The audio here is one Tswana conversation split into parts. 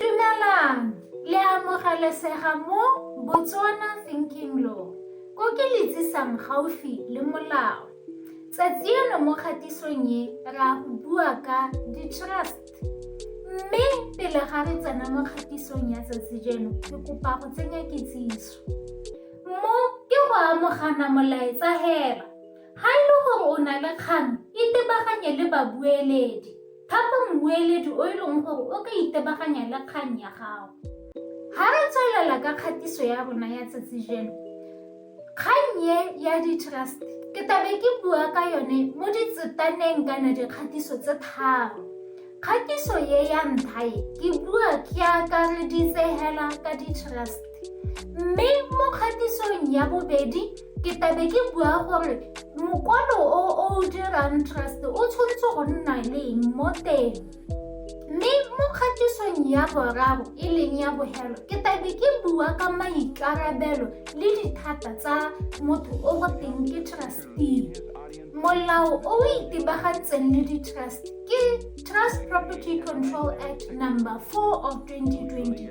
Dumelang! Le a amogelesega mo Botswana Thinking Law, ko ke le tsisang gaufi le molao. Tsatsi eno mo kgatisong e ra go bua ka di-trust. Mme pele ga re tsena mo kgatisong ya tsatsi jeno, ke kopa go tsenya kitsiso. Mo ke go amogana molaetsa hela. Ga e le gore o na le kgang, itebaganye le babueledi. Thapa mmueledi o e leng gore o ka itebaganya le kgang ya gago. Ga re tswelela ka kgatiso ya rona ya tsatsi jeno, kgang ye ya di-trust ke tabe ke bua ka yone mo ditsetaneng kana dikgatiso tse tharo. Kgatiso ye ya ntlha e ke bua ke akareditse hela ka di-trust mme mo kgatisong ya bobedi ke tabe ke bua gore mokwalo o o dirang trust o tshwanetse go nna leng mo teng mme mo kgatisong ya boraro e leng ya bohelo ke tabe ke bua ka maikarabelo le dithata tsa motho o go teng ke trustee molao o o itebagantseng le di-trust ke trust property control act number 4 of 2020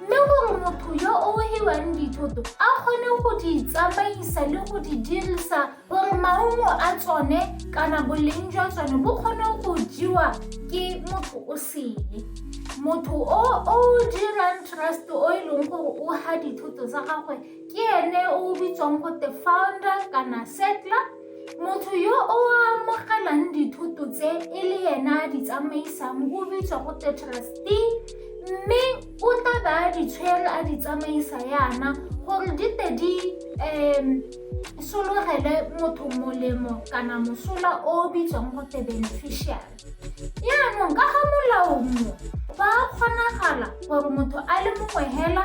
mme gore motho yo o hiwang dithoto a kgone go di tsamaisa le go di dirisa gore maungo a tsone kana boleng jwa tsone bo kgone go jewa ke motho o sele motho o o dirang trust o e leng gore o ha dithoto tsa gagwe ke ene o bitswang gote founder kana settler Motho yo o amogelang dithoto tse e le yena a di tsamaisang o bitswa go te trustee mme o tla ba a di tshwere a di tsamaisa yana gore di te di um sologele motho molemo kana mosola o o bitswang go te beneficial yaanong ka ga molao mo ba kgonagala gore motho a le mongwe hela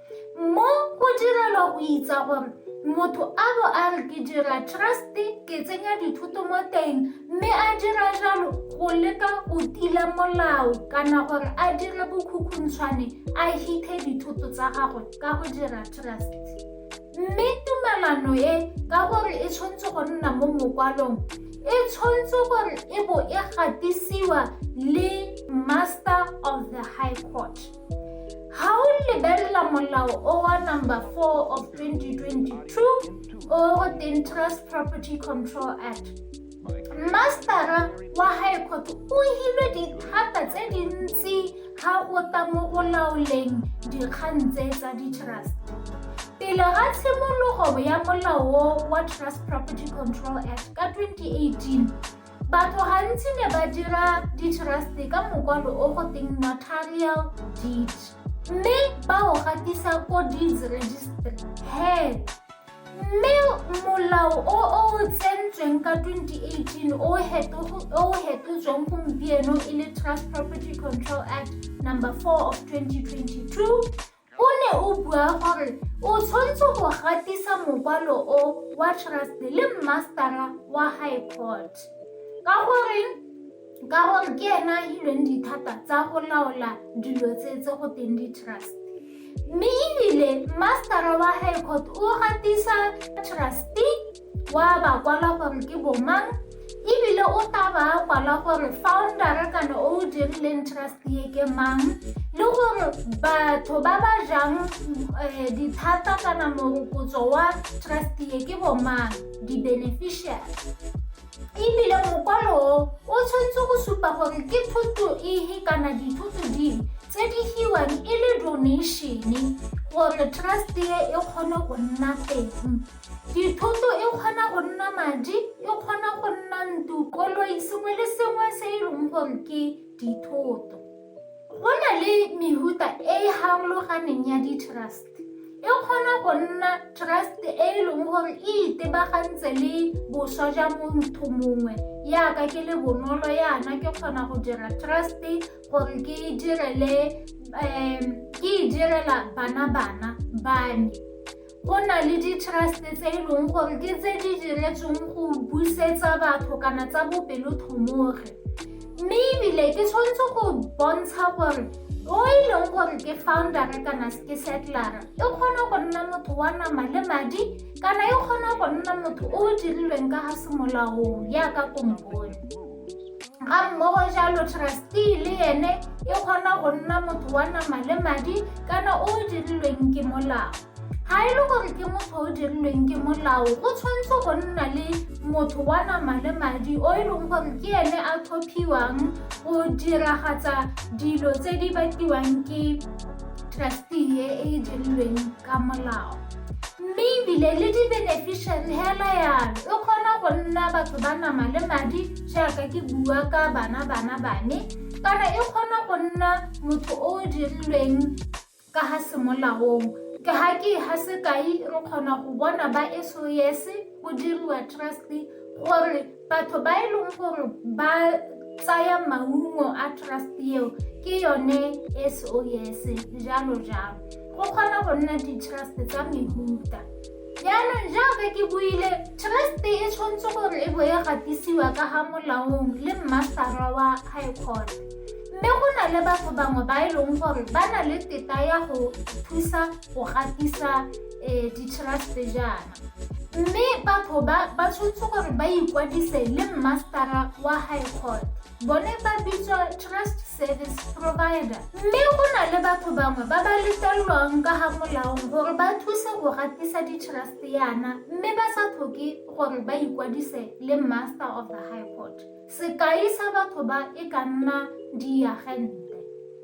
mo go direlwa go itsa gore motho a bo a re ke dira truste ke tsenya dithoto mo teng mme a dira jalo go leka go tila molao kana gore a dire bokhukhuntshwane a hithe dithoto tsa gagwe ka go dira truste mme tumalano e ka gore e tshwanetse go nna mo mokwalong e tshwanetse gore e bo e gatisiwa le master of the high court ga o lebelela molao o wa number 4 of 2022 o go teng trust property control act mastera wa high court o hilwe dithata tse dintsi ga o ta mo go laoleng dikgang tse tsa di-trust pele ga tshimologo ya molao wa trust property control act ka 2018 Batho gantsi ne ba dira ditrust-e ka mokwalo o go teng notarial deed mme ba o gatisa ko deeds registry he mme molao o o tsentsweng ka 2018 o o hetotsweng gompieno e le trust property control act number 4 of 2022 O ne o bua gore o tshwanetse go gatisa mokwalo o wa trust le mmastara wa high court ka gore ka gore ke ena a hilweng dithata tsa go laola dilo tse tse go teng di-trust mme ebile mmastara wa high court o gatisa trustee wa ba kwala gore ke bomang ebile o tla ba kwala gore foundera kana o o dirileng trust ye ke mang le gore batho ba ba jang eh, dithata kana morokotso wa trust ye ke bomang di-beneficiary ebile mokwalo o o tshwanetse go supa gore ke thuto ehe kana dithuto dingwe tse di hiwang e le donation gore trust ye e kgone go nna teng Dithoto e kgona go nna madi, e kgona go nna ntu, koloi, sengwe le sengwe se e leng gore ke dithoto. Go na le mehuta e e harologaneng ya di-trust. E kgona go nna trust e e leng gore e itebagantse le boswa jwa motho mongwe yaka ke le bonolo yana ke kgona go dira trust gore ke e direle um ke e direla bana bana bane Go na le di-trust tse e leng gore ke tse di diretsweng go busetsa batho kana tsa bopelotlhomogi mme ebile ke tshwanetse go bontsha gore o e leng gore ke foundere kana ke settlera e kgona go nna motho wa nama le madi kana e kgona go nna motho o o dirilweng ka ga semolaong yaka kompone ga mmogo jalo trustee le ene e kgona go nna motho wa nama le madi kana o o dirilweng ke molao ga e le gore ke motho o dirilweng ke molao go tshwanetse go nna le motho wa nama le madi o e leng gore ke ene a tlhophiwang go diragatsa dilo tse di batliwang ke trustee e e dirilweng ka molao mme ebile le di-beneficiary hela yalo e kgona go nna batho ba nama le madi jaaka ke bua ka bana bana bane kana e kgona go nna motho o o dirilweng ka ga semolaong ke ga ke ga sekai re kgona go bona ba sos go diriwa trust gore Batho ba e leng gore ba tsaya maungo a trust eo ke yone SOS jalo jalo go kgona go nna di-trust tsa mehuta jaanong jaaka ke buile trust e tshwanetse gore e bo e gatisiwa ka ga molaong le mmasara wa high court mme go na le batho bangwe ba e leng gore ba na le teta ya go thusa go gatisa um di-trust jaana Mme batho ba ba tshwanetse gore ba ikwadise le mmastara wa high court bone ba bitswa trust service provider mme go na le batho bangwe ba ba letlelelwang ka ga molaong gore ba thuse go gatisa di-trust yana mme ba sa tlhoke gore ba ikwadise le master of the high court sekai sa batho ba e ka nna diagente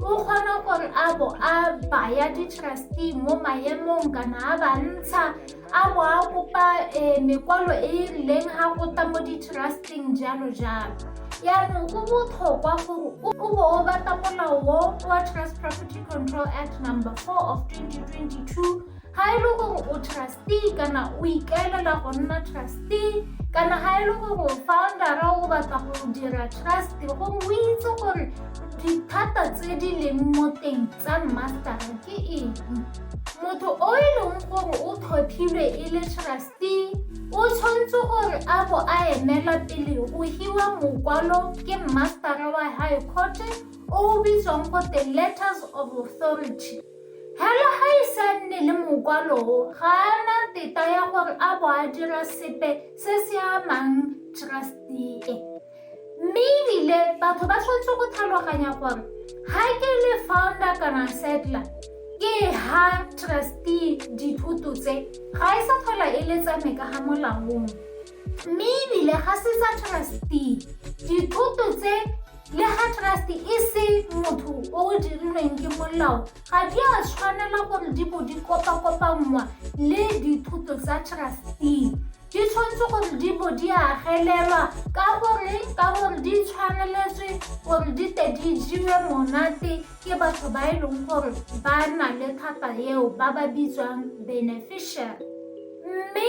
o kgona gore a bo a baya di-trustee mo maemong kana a ba ntsha a bo a kopa um mekwalo e e rileng ga go ta mo di-trusting jalo jalo yaanong go botlhokwa gore o bo o bata molao wo wa trust property control act number four of 2022 ga e le gore o trustee kana o ikaelela go nna trustee kana ga e le gore foundera o batla go dira trust go o itse gore dithata tse di leng mo teng tsa mastera ke eng motho o e leng gore o tlhophilwe e le trustee o tshwanetse gore a bo a emela pele go hiwa mokwalo ke mastera wa high court o o bitswang gote letters of authority Hela ga e sa nne le mokwalo o, ga a na teta ya gore a bo a dira sepe se se amang trustee e. Mme ebile batho ba tshwanetse go tlhaloganya gore ha ke le founder kana settler ke ha trustee dithoto tse ga e sa tlhola e le tsa me ka ga molaong. Mme ebile ga se sa trustee dithoto tse le ga trust e se motho o o dirilweng ke molao ga di a tshwanela gore di bo di kopakopanngwa le dithoto tsa trustee di tshwanetse gore di bo di agelelwa ka gore ka gore di tshwaneletswe gore di te di jewe monate ke batho ba e leng gore ba na le thata eo ba ba bitswang beneficiary mme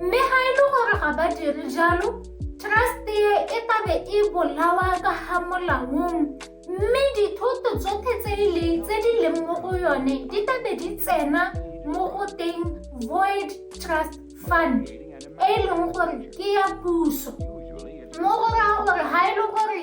mme ga e le gore ga ba dire jalo trust e e tabe e bolawa ka ga molaong mme dithoto tsotlhe tse e le tse di leng mo go yone di tabe di tsena mo go teng void trust fund e e leng gore ke ya puso mo go raya gore ga e le gore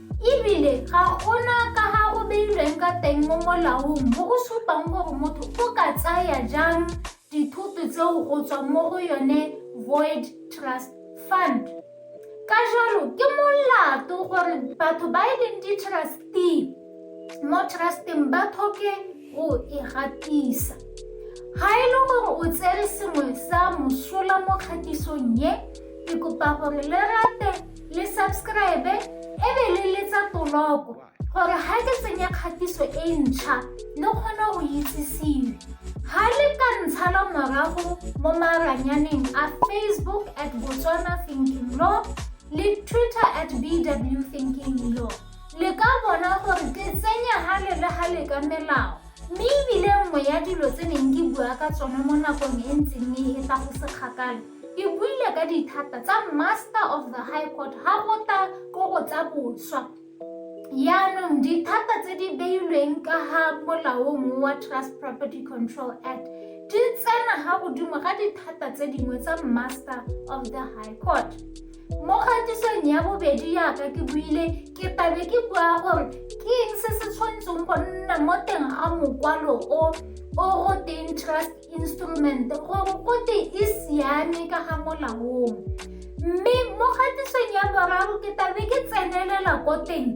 ebile ga ona ka ga o beilweng ka teng mo molaong mo o supang gore motho o ka tsaya jang dithoto tseo go tswa mo go yone void trust fund ka jalo ke molato gore batho ba e leng di-trustee mo trusteng ba tlhoke go e gatisa ga e le gore o tsere sengwe sa mosola mo kgatisong ye ke kopa gore le rate le subscribe e be le letsa toloko gore ga ke tsenye kgatiso e ntšha le kgone go itsisiwe ga le ka ntsha la morago mo maranyaneng a facebook at botswana thinking law le twitter at bw thinking law le ka bona gore ke tsenya gale le gale ka melao mme ebile nngwe ya dilo tse neng ke bua ka tsone mo nakong e ntseng mme e tla go sekgakala ke buile ka dithata tsa master of the high court ga go ta ko go tsa boswa yaanong dithata tse di beilweng ka ga molaong wa trust property control act di tsena ga godimo ga dithata tse dingwe tsa master of the high court mo kgatisong ya bobedi yaka ke buile ke tabe ke bua gore ke eng se se tshwanetseng go nna mo teng ga mokwalo o o goteng trust instrument gore kote e siame ka ga molaong mme mo kgatisong ya boraro ke tabe ke tsenelela ko teng